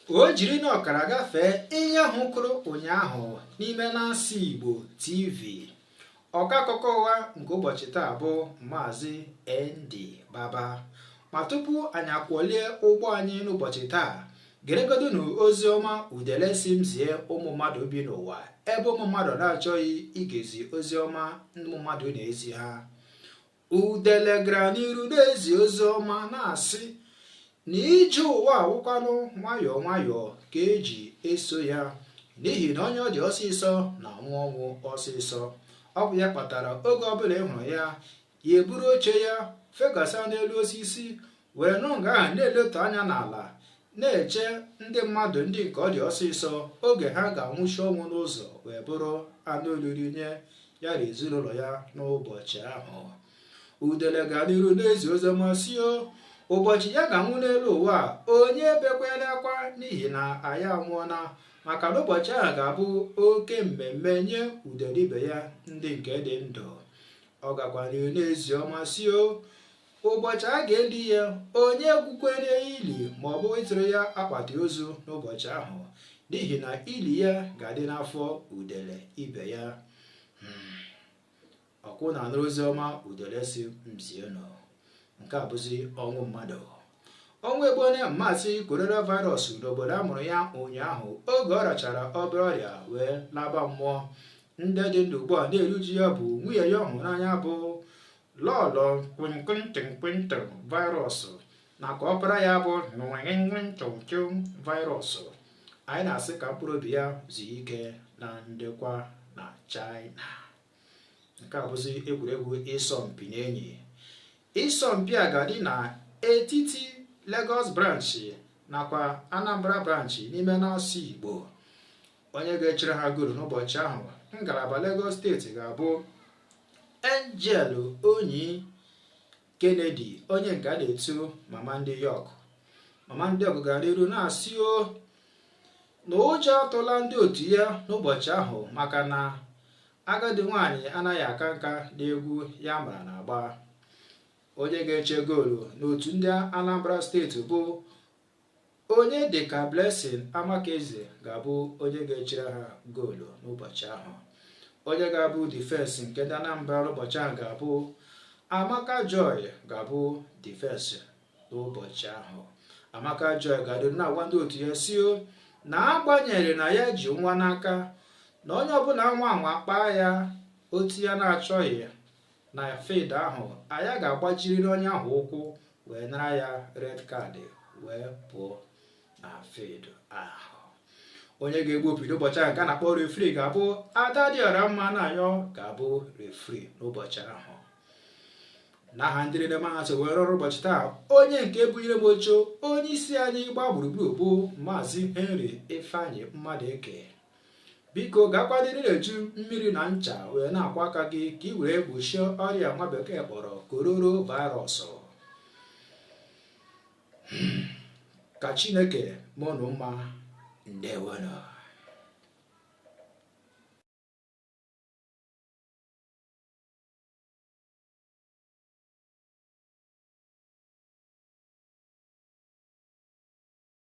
o jiri na ọkara gafee ihe ahụ kụrụ ụnyaahụ n'ime Nancy Igbo TV ọkọ akụkọ ụwa nke ụbọchị taa bụ Maazị ND Baba ma tupu anyị akwọlie ụgbọ anyị n'ụbọchị taa geregodu na ozi ọma udele sị m zie ụmụ mmadụ bi n'ụwa ebe ụmụ mmadụ na-achọghị igezi ozi ọma ụmụ mmadụ na-ezi ha udele gara n'iru na-ezi ozi ọma na-asị na ije ụwa a wụkwanụ nwayọọ nwayọọ ka e ji eso ya n'ihi na onye ọ dị ọsịsọ na-anwụ ọnwụ ọsịsọ ọ bụ ya kpatara oge ọbụla ị hụrụ ya ya eburu oche ya fegasa n'elu osisi wee nọ nga ahụ na-eletụ anya n'ala na-eche ndị mmadụ ndị nke ọ dị ọsịsọ oge ha ga-anwụchi ọnwụ n'ụzọ wee bụrụ anụ oriri nye ya na ezinụlọ ya n'ụbọchị ahụ udele ga n'iru na-ezi oziọma sị o ụbọchị ya ga-anwụ n'elu ụwa onye ebekwala akwa n'ihi na ya anwụọna maka na ụbọchị ahụ ga-abụ oke mmemme nye udele ibe ya ndị nke dị ndụ ọ gakwa n'iru na-ezi ọma sị o Ụbọchị a ga-eli ya, onye egwukwele ili ma ọ bụ ịtụrụ ya akpati ozu n'ụbọchị ahụ, n'ihi na ili ya ga-adị n'afọ udele ibe ya. Hmm. Ọ kwa ụnụ anụrụ ozi ọma udele sị m zie ụnụ. Nke a bụzi ọnwụ mmadụ. Ọnwụ egbuone Maazị coronavirus n'obodo a mụrụ ya ụnyaahụ oge ọ rịachara obere ọrịa wee laba mmụọ. Ndị dị ndụ ugbu a na-eru uju ya bụ nwunye ya ọ hụrụ n'anya bụ lọlọ kwinkwinkwinkwinkw virus nakwa ọpara ya bụ nwenwenwenchọnchọ virus anyị na-asị ka mkpụrụ obi ya zuo ike na ndokwa na China nke a bụzi egwuregwu ịsọmpi n'enyi ịsọmpi a ga-adị na etiti Lagos branch nakwa Anambra branch n'ime n'asụ Igbo onye ga-echere ha goolu n'ụbọchị ahụ ngalaba Lagos steeti ga-abụ Angel Onyi Kennedy onye nke a na-etu mama ndị York mama ndị York gara n'iru na-asị o na ụjọ atụla ndị otu ya n'ụbọchị ahụ maka na agadi nwaanyị anaghị aka nka n'egwu ya mara na-agba onye ga-eche goolu n'otu ndị Anambra steeti bụ Onye dịka Blessing Amakeze ga-abụ onye ga-echere ha goolu n'ụbọchị ahụ. Onye ga-abụ difensi nke ndị Anambra n'ụbọchị ahụ ga-abụ Amaka Joy ga-abụ difensi n'ụbọchị ahụ. Amaka Joy ga-adị na-agwa ndị otu ya sị o na agbanyeghị na ya ji nwa n'aka na onye ọbụla nwaa anwa kpaa ya otu ya na-achọghị na field ahụ anyị ga-agbajiriri onye ahụ ụkwụ wee nara ya red card wee pụọ na field ahụ onye ga-egbu opi n'ụbọchị ahụ nke a na-akpọ referee ga-abụ adadịọramma na ayọ ga-abụ referee n'ụbọchị ahụ n'aha ndị niile mụ na ha so wee rụọ ọrụ ụbọchị taa onye nke bunyere m oche onye isi anyị gbaa gburugburu bụ maazị henry ifeanyị mmadụeke biko gaakwa n'iru na-eji mmiri na ncha wee na-akwọ aka gị ka ị wee gbochie ọrịa nwa bekee kpọrọ corona virus ka chineke mee unu mma ndewonụ